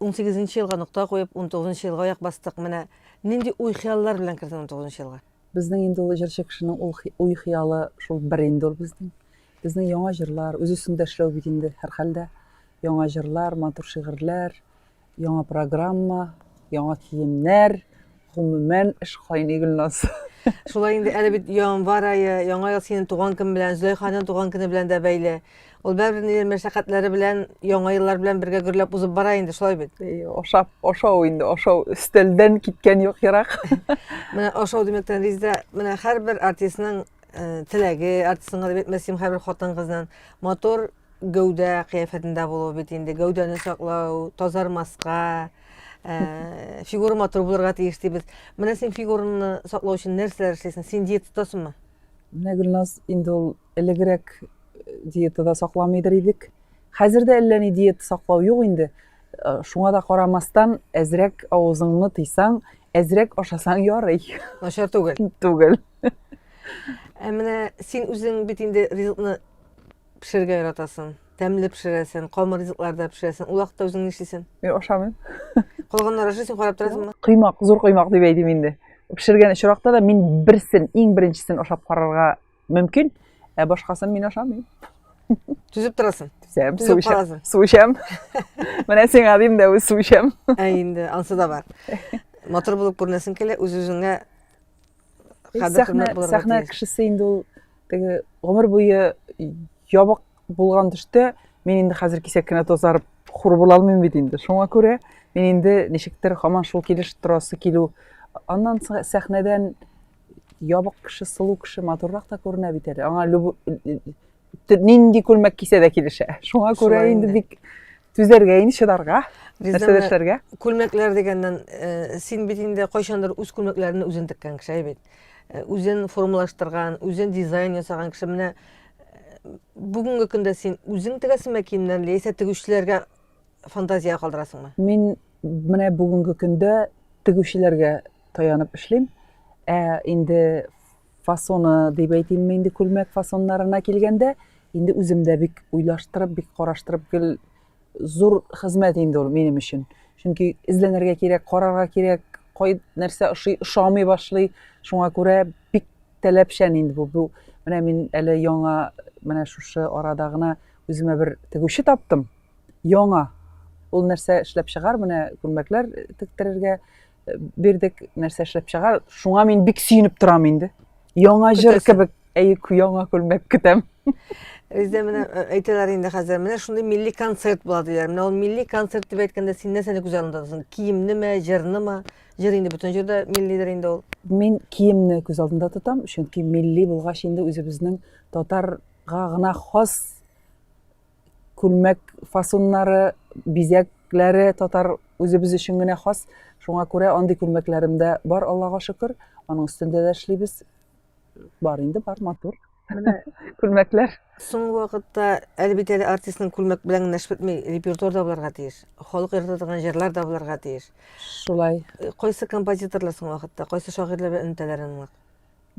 Унсигезенче елга нокта куеп, унтугызынчы елга аяк бастык. Менә нинди уй-хыяллар белән кердең унтугызынчы елга? Безнең инде ул җырчы кешенең ул уй-хыялы шул бер инде ул безнең. Безнең яңа җырлар, үз өстеңдә эшләү бит инде, һәрхәлдә. Яңа җырлар, матур шигырьләр, яңа программа, яңа киемнәр. Гомумән, эш кайный, Гөлназ. Шулай инде, әле бит январь ае, яңа ел синең туган көн белән, Зөләйханың туган көне белән дә бәйле. Ул бәрбер нидер мәшәкатьләре белән, яңа еллар белән бергә гөрләп узып бара инде, шулай бит. Ашап, ашау инде, ашау өстәлдән киткән юк ерак. Менә ашау димәктән Ризда, менә һәрбер артистның э, теләге, артистның гына бит, мәсим һәрбер хатын-кызның матур Гәүдә кыяфәтендә булу бит инде, гәүдәне саклау, тазармаска, э, фигура матур булырга тиеш дибез. Менә син фигураны саклау өчен нәрсәләр эшлисең? Син диета тотасыңмы? Менә Гөлназ инде ул элегрәк э, диетада сакламыйдыр идек. Хәзер дә әллә ни диета саклау юк инде. Э, Шуңа да карамастан, әзрәк авызыңны тыйсаң, әзрәк ашасаң ярый. Начар түгел. Түгел. Ә менә син үзең бит инде ризыкны Пешерергә яратасын. Тәмле пешерәсен, камыр ризыкларда пешерәсен. Ул вакытта үзең нишлисен? Мин ашамыйм. Калганнар ашый, син карап торасыңмы? Кыймак, зур кыймак дип әйтим инде. Пешергән очракта да мин берсен, иң беренчесен ашап карарга мөмкин, ә башкасын мин ашамыйм. Түзеп торасың. Түзәм, су эчәм. Су эчәм. Менә сиңа дим дә, су эчәм. Ә инде, ансы да бар. Матур булып күренәсең килә, үз-үзеңә Сәхнә кешесе инде ул теге гомер буе ябык булган төштә мин инде хәзер кисәк кенә тазарып хур була алмыйм бит инде шуңа күрә мин инде ничектер һаман шул килеш торасы килү аннан сәхнәдән ябык кеше сылу кеше матуррак та күренә бит әле аңа нинди күлмәк кисә дә килешә шуңа күрә инде бик түзәргә инде чыдарга нәрсә эшләргә күлмәкләр дигәннән э, син бит инде кайчандыр үз күлмәкләреңне үзең теккән кеше бит Э, үзен формалаштырган үзен дизайн ясаган кеше менә э, бүгенге көндә син үзең тегәсеңме киемнәрне яисә тегүчеләргә фантазия калдырасыңмы мин менә бүгенге көндә тегүчеләргә таянып эшлим ә инде фасоны дип әйтимме инде күлмәк фасоннарына килгәндә инде үзем дә бик уйлаштырып бик караштырып гел зур хезмәт инде ул минем өчен. Чөнки эзләнергә кирәк, карарга кирәк, кай нәрсә ошый, ошамый башлый. Шуңа күрә бик таләпчән инде бу. Бу менә мин әле яңа менә шушы арада гына үземә бер тегүче таптым. Яңа. Ул нәрсә эшләп чыгар, менә күлмәкләр тектерергә Бирдек нәрсә эшләп чыга. Шуңа мин бик сөенеп торам инде. Яңа җыр кебек, әй, яңа күлмәк көтәм. Бездә менә э, әйтәләр инде хәзер, менә шундый милли концерт була диләр. Менә ул милли концерт дип әйткәндә син нәрсәне күз алдында тотасың? Киемнеме, җырнымы? Җыр инде бөтен җирдә миллидер инде ул. Мин киемне күз алдында тотам, чөнки милли булгач инде үзебезнең татарга гына хас күлмәк фасуннары, бизәкләре татар үзебез өчен генә хас. Шуңа күрә андый күлмәкләрем дә бар, Аллага шөкер. Аның өстендә дә эшлибез. Бар инде, бар, матур. Менә күлмәкләр. Соңгы вакытта әлбит әле артистның күлмәк белән генә эш бетми, репертуар да булырга тиеш. Халык ярата торган җырлар да булырга тиеш. Шулай. Кайсы композиторлар соңгы вакытта, кайсы шагыйрьләр белән элемтәләр аның?